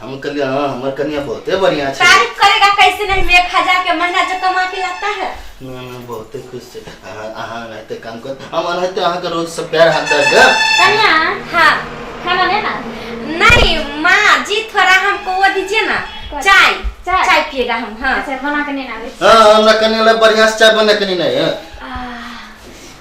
हम कहलिए हाँ हमर कनिया बहुते बढ़िया छै तारीफ करेगा कैसे नहीं मैं खजा के महीना जो कमा के लाता है ना ना बहुते खुश छै अहाँ अहाँ रहते काम कर हम रहते अहाँ के रोज सब प्यार हाथ दर्द कन्या हाँ खाना लेना नहीं माँ जी थोड़ा हमको वो दीजिए ना चाय चाय? चाय पिएगा हम हाँ अच्छा बना के नहीं ना आवे हाँ हमरा कनिया ला बढ़िया से चाय बना के नहीं है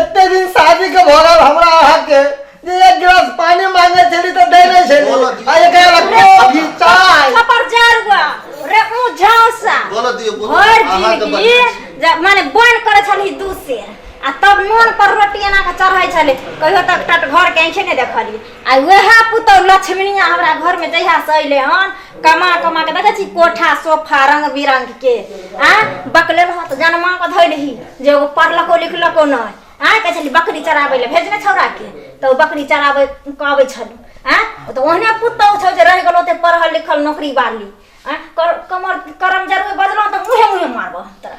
एते दिन शादी के भरल हमरा अहाँ के जे एक गिलास पानी मांगे छली तो दे नहीं छली बोलो दी। आ एकरा ला कॉफी चाय कपर जारुआ रे ऊ झांसा बोलो दियो बोलो भर अहाँ के जिंदगी बच्चा। जब माने बन करे छली दूसे आ तब नून पर रोटी एना के चढ़ै छली कहियो तक टट घर के आंखे ने देखली आ वएह पुतौ लक्ष्मीनिया हमरा घर में जहिया से अइले हन कमा कमा के देखे छी कोठा सोफा रंग बिरंग के आ बकले रहत जनमा के धइलही जे एगो पढ़लको लिखलको न आ कहे छली बकरी चराबै ले भेजने छौरा के तऽ ओ बकरी चराबै कहबै छल आ तऽ ओहने पुतौ छौ जे रहि गेलो ते पढ़ल लिखल नौकरी बाली आ कर- कमर करम जरूर बदलो तऽ मुहे मुहे मारबो हम तोरा